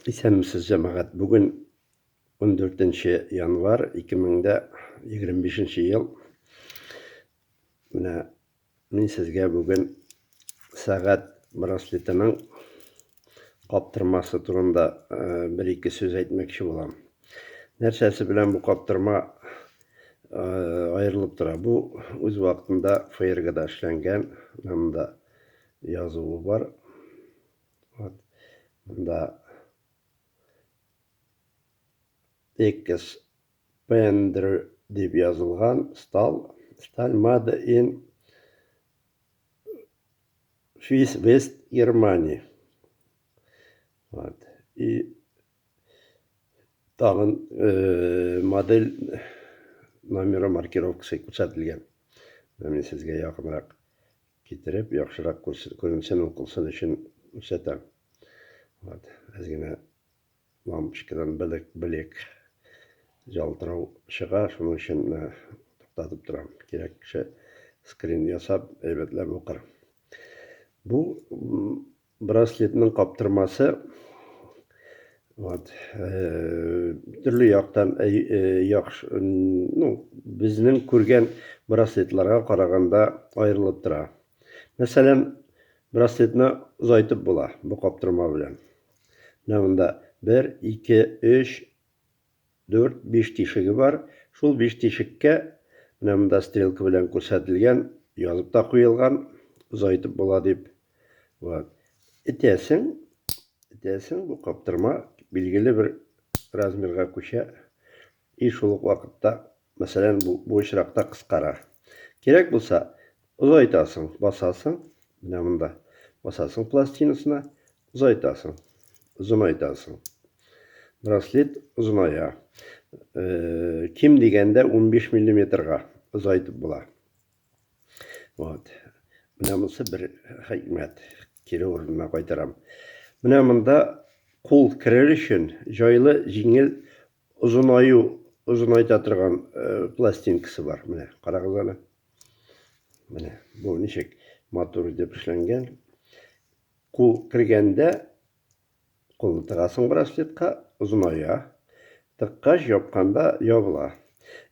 Исәнмесез, җәмәгать. Бүген 14 январь 2025 ел. Менә мин сезгә бүген сәгать браслетының каптырмасы турында бер ике сүз әйтмәкче булам. Нәрсәсе белән бу каптырма аерылып тора? Бу үз вакытында фейергада эшләнгән, монда язуы бар. Вот. Монда Экс Пендер дип язылган стал. Сталь мада ин Фис Вест Германии. Вот. И тагын э, модель номеры маркировкасы күрсәтелгән. Менә сезгә якынрак. Китереп, яхшырак күрсен, күренсен, укылсын өчен күрсәтәм. Вот, без генә лампочкадан белек, белек җалтырау чыга, шуның өчен менә туктатып торам. Кирәк кеше скрин ясап, әйбәтләп укыр. Бу Браслетның каптырмасы вот төрле яктан яхшы, ну, безнең күргән браслетларга караганда аерылып тора. Мәсәлән, браслетны озайтып була бу каптырма белән. Менә монда 1, 2, 3, Дүрт, биш тишеге бар. Шул биш тишеккә, менә монда стрелка белән күрсәтелгән, язып та куелган, озайтып була дип. Вот. Этәсең, этәсең, бу каптырма билгеле бер размерга күчә. И шул ук вакытта Мәсәлән, бу, бу очракта кыскара. Кирәк булса, озайтасың, басасың, менә монда. Басасың пластинасына, озайтасың, озынайтасың. Браслет озыная. Э, ким дигәндә 15 миллиметрга озайтып була. Вот. Менә монысы бер хикмәт. Кире урынына кайтарам. Менә монда кул керер өчен җайлы, җиңел озынаю озынайта торган пластинкасы бар менә карагыз әле менә бу ничек матур итеп эшләнгән кул кергәндә кулны тыгасың браслетка озыная тыккач япканда ябыла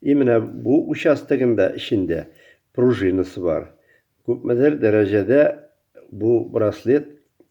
и менә бу участогында эчендә пружинасы бар күпмедер дәрәҗәдә бу браслет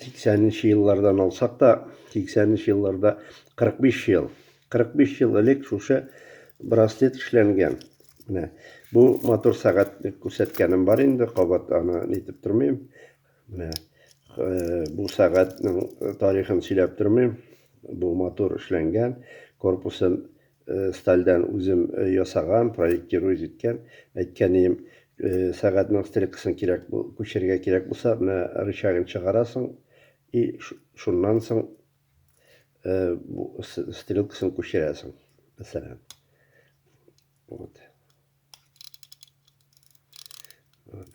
80 еллардан алсак та, 80 елларда 45 ел. 45 ел элек шушы браслет эшләнгән. Менә бу мотор сәгать күрсәткәнем бар инде, кабат аны нитеп тормыйм. Менә э, бу сәгатьнең тарихын сөйләп тормыйм. Бу мотор эшләнгән, корпусын Стальдән үзем ясаган, проектируй җиткән. Әйткәнием, сәгатьнең стрелкасын кирәк бу, күчергә кирәк булса, менә рычагын чыгарасың и шуннан соң бу стрелкасын күчерәсең. Мәсәлән. Вот.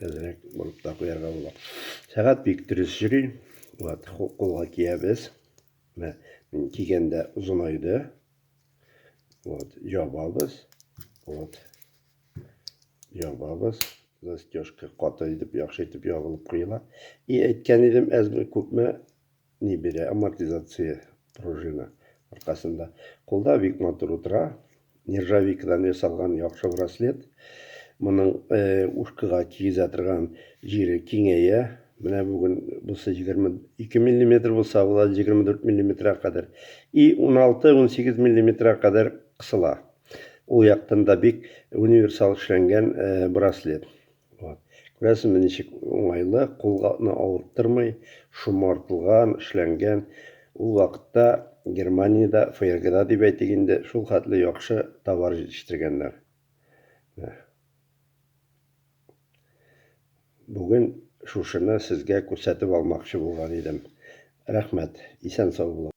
Әзрәк булып та куярга була. Сәгать бик дөрес йөри. Вот, кулга киябез. Менә кигәндә озынайды. От, ябабыз. От. Ябабыз. Застежка каты итеп, яхшы итеп ябылып куела. И әйткән идем, әзме күпме ни бирә, амортизация пружина аркасында. Кулда бик матур утыра. Нержавейкадан ясалган яхшы браслет. Моның э, ушкага кигезә торган җире киңәя. Менә бүген булса 22 мм булса, була 24 мм-га кадәр. И 16-18 мм-га кадәр кысыла. Ул яктан да бик универсал эшләнгән э, браслет. Вот. Күрәсезме, ничек уңайлы, кулны авырттырмый, шомартылган, эшләнгән. Ул вакытта Германиядә, ФРГда дип әйтик инде, шул хәтле яхшы товар җитештергәннәр. Бүген шушыны сезгә күрсәтеп алмакчы булган идем. Рәхмәт. Исән-сау булыгыз.